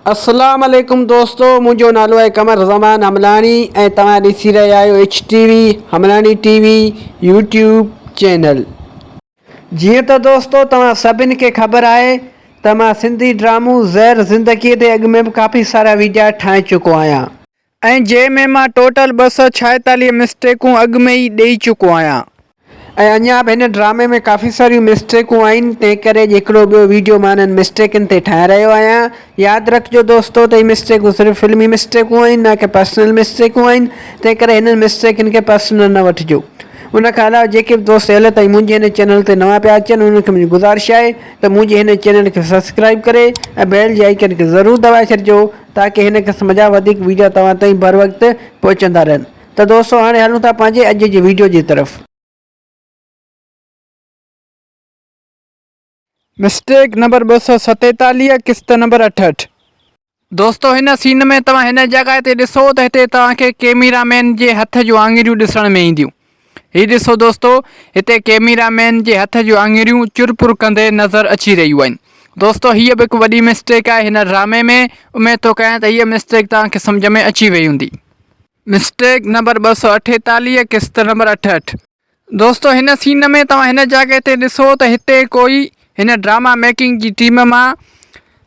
اسلام عليڪم دوستو منهنجو نالو آهي قمر زمان حملاڻي ۽ توهان ڏسي رهيا آهيو H T V Hamlani T V YouTube channel جيئن ته دوستو توهان سڀني کي خبر آهي ته مان سنڌي ڊرامو زهر زندگي تي اڳ ۾ به ڪافي سارا ويڊيا ٺاهي چڪو آهيان ۽ جنهن ۾ مان ٽوٽل ٻه سؤ ڇائيتاليهه مسٽيڪون اڳ ۾ ئي ڏئي چڪو آهيان. ۽ اڃا به هن ڊرامي ۾ ڪافي ساريون مسٽيڪون آهن تنهن ڪري اڄ هڪڙو ٻيو ويڊيو مان انهن مسٽيڪن تي ٺاهي رهيو آهيان. ياد رکجو دوستو ته هي مسٽيڪون صرف فلمي مسٽيڪون آهن نه ڪي پرسنل مسٽيڪون آهن تنهن ڪري هنن مسٽيڪن کي پرسنل نه وٺجو. ان کان علاوه جيڪي به دوست هيل تائين منهنجي هن چينل تي نوان پيا اچن انهن کي منهنجي گذارش آهي ته منهنجي هن چينل کي سبسڪرائيب ڪري ۽ بيل جي آئيڪن کي ضرور دٻائي ڇڏجو تاڪه هن قسم جا وڌيڪ ويڊيو توهان تائين بر وقت پهچندا رهن ته دوستو هاڻي هلون ٿا پنهنجي اڄ جي ويڊيو جي طرف. مسٽيڪ نمبر ٻه سؤ ستيتاليهه قسط نمبر اٺهٺ. دوستو هن سين ۾ توهان هن جڳهه تي ڏسو ته هتي توهان کي ڪيميرا مين جي هٿ جون آڱريون ڏسڻ ۾ اينديون. هي ڏسو دوستو هتي ڪيميرا مين جي هٿ جون آڱريون چر پر ڪندي نظر اچي رهيون آهن دوستو هيء به هڪ وڏي مسٽيڪ آهي هن ڊرامي ۾ اميد ٿو ڪيان ته هيء مسٽيڪ توهان کي سمجهه ۾ اچي وئي هوندي مسٽيڪ نمبر ٻه سؤ اٺيتاليهه قسط نمبر اٺهٺ دوستو هن سين ۾ توهان هن جاڳي تي ڏسو ته هتي ڪوئي هن ڊراما ميڪنگ جي ٽيم مان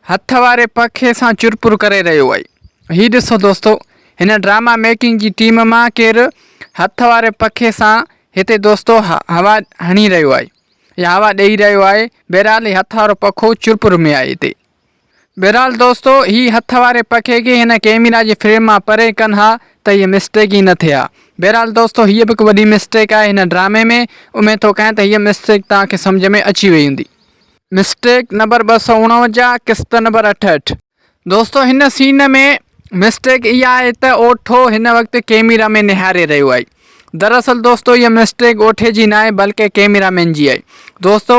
هٿ واري پکي سان چرپر ڪري رهيو آهي هي ڏسو دوستو هن ڊراما ميڪنگ جي ٽيم مان ڪير هٿ واري پکي سان هتي دوستو هوا هڻي رهيو آهي يا هوا ڏئي رهيو آهي بهرحال هي هٿ وارو پکو چرپر ۾ آهي هتي بهرحال دوستو هي هٿ واري پکي کي هن ڪيميرا جي فريم مان پري ڪن ها ته هيء مسٽيڪ ئي نه ٿئي ها. بهرحال دوستو هيء به هڪ وڏي مسٽيڪ آهي هن ڊرامي ۾. اميد ٿو ڪيان ته هيء مسٽيڪ توهان کي سمجهه ۾ اچي وئي هوندي. مسٽيڪ نمبر ٻه سؤ اڻونجاهه قسط نمبر اٺهٺ. دوستو هن سين ۾ مسٽيڪ اها آهي ته اوٺو هن وقت ڪيميرا ۾ نهاري رهيو آهي. دراصل دوستو هيء مسٽيڪ اوٺي جي ناهي بلڪه ڪيميرا مين جي آهي. دوستو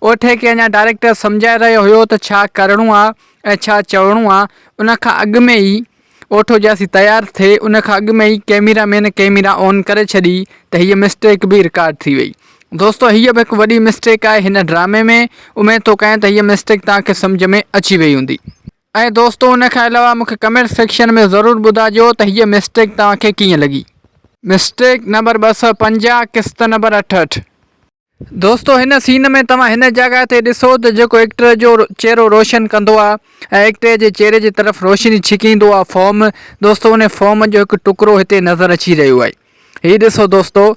اوٺي کي اڃا ڊائريڪٽر سمجهائي رهيو هيو ته ڇا ڪرڻو آ ۽ ڇا چوڻو آ ان کان اڳ ۾ ئي اوٺو جياسين تيار ٿي ان کان اڳ ۾ ئي ڪيميرا مين ڪيميرا آن ڪري ڇڏي ته هيء مسٽيڪ به رڪارڊ ٿي وئي. دوستو هيء به هڪ وڏي مسٽيڪ آهي هن ڊرامي ۾ اميد ٿو ڪيان ته هيء مسٽيڪ توهان کي سمجهه ۾ اچي وئي هوندي. ۽ دوستو ان کان علاوه مونکي ڪمينٽ سيڪشن ۾ ضرور ٻڌاجو ته هيء مسٽيڪ توهان کي ڪيئن لڳي. مسٽيڪ نمبر ٻه سؤ پنجاهه قسط نمبر اٺهٺ. دوستو هن سين ۾ توهان هن جاڳهه تي ڏسو ته جيڪو ايڪٽر جو چهرو روشن ڪندو آ ۽ ايڪٽر جي چهري جي طرف روشني ڇڪيندو آ فوم دوستو انهي فوم جو هڪ ٽڪرو هتي نظر اچي رهيو آهي هي ڏسو دوستو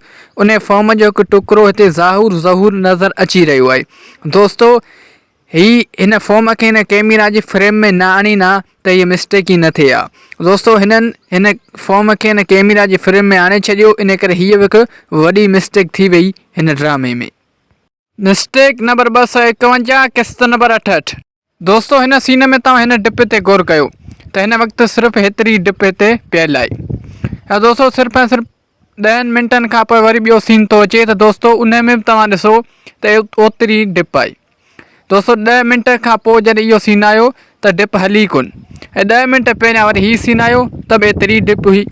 انهي فوم جو هڪ ٽڪرو هتي ظاهور ظهور نظر اچي رهيو آهي دوستو هي هن فوم کي هن ڪيميرا جي فريم ۾ نه آڻين ها ته هيء مسٽيڪ ئي نه ٿئي ها دوستو هنن هن فوم کي هن ڪيميرا جي فريم ۾ آڻي ڇڏيو ان ڪري هيء به هڪ وڏي مسٽيڪ ٿي وئي هن ڊرامي ۾. مسٽيڪ نمبر ٻه سؤ ايڪونجاهه قسط نمبر اٺهٺ. دوستو هن سين ۾ توهان هن ڊپ تي غور ڪيو ته هن وقت صرف هيتري ڊپ هتي پيل آهي ۽ دوستو صرف ۽ صرف ڏهن منٽن کان پوء وري ٻيو سين ٿو اچي ته دوستو انهي ۾ به توهان ڏسو ته اوتري ڊپ آئي دوستو ڏهه منٽ کان پوء جڏهن اهو سين آيو ته ڊپ هلي ڪون ۽ ڏهه منٽ پهريان وري هي سين آيو ته به ايتري ڊپ هئي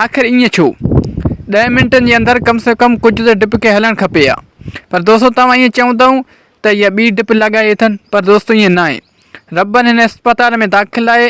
آخر ائين ڇو ڏهن منٽن جي اندر ڪم سي ڪم ڪجهه ته ڊپ کي هلڻ کپي ها پر دوستو توهان ائين چوندؤ ته هيء ٻي ڊپ لڳائي اٿن پر دوستو ائين ناهي ربن هن اسپتال ۾ داخل آهي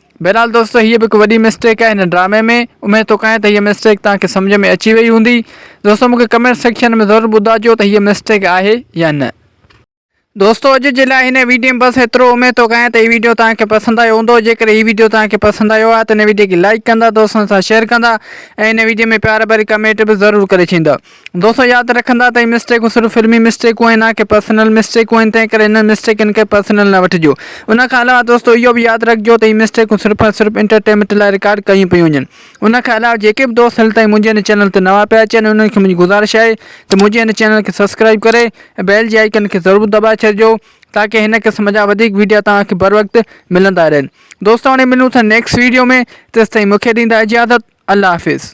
بهرحال دوستو هيء به هڪ وڏي مسٽيڪ آهي هن ڊرامي ۾ اميد ٿو ڪيان ته هيء مسٽيڪ توهان کي سمجهه ۾ اچي وئي هوندي دوستو مون کي ڪمينٽ سيڪشن ۾ ضرور ٻڌائجو ته هيء مسٽيڪ آهي يا نه. دوستو اڄ جي لاء هن ويڊيو ۾ بس ايترو اميد ٿو ڪيان ته هي ويڊيو توهان کي پسند آيو هوندو جيڪڏهن هي ويڊيو توهان کي پسند آيو آهي ته هن ويڊيو کي لائيڪ ڪندا دوستن سان شيئر ڪندا ۽ هن ويڊيو ۾ پيار ڀري ڪمينٽ به ضرور ڪري ڇڏيندا دوستو ياد رکندا ته هي مسٽيڪون صرف فلمي مسٽيڪون آهن نا ڪي پرسنل مسٽيڪون آهن تنهن ڪري انهن مسٽيڪن کي پرسنل نه وٺجو ان کان علاوه دوستو اهو به ياد رکجو ته هي مسٽيڪون صرف ۽ صرف انٽرٽينمينٽ لاء رڪارڊ ڪيون پيون وڃن ان کان علاوه جيڪي به دوست هل تائين منهنجي هن چينل تي نوان پيا اچن انهن کي منهنجي گذارش آهي ته منهنجي هن چينل کي سبسڪرائب ڪري ۽ بيل جي آئيڪن کي ضرور دٻائي ڇڏجو تاڪي هن قسم جا وڌيڪ ويڊيا توهان کي بر وقت ملندا رهن دوستو هاڻي ملون ٿا نيڪسٽ ويڊيو ۾ تيستائين مونکي ڏيندا اجازت الله حافظ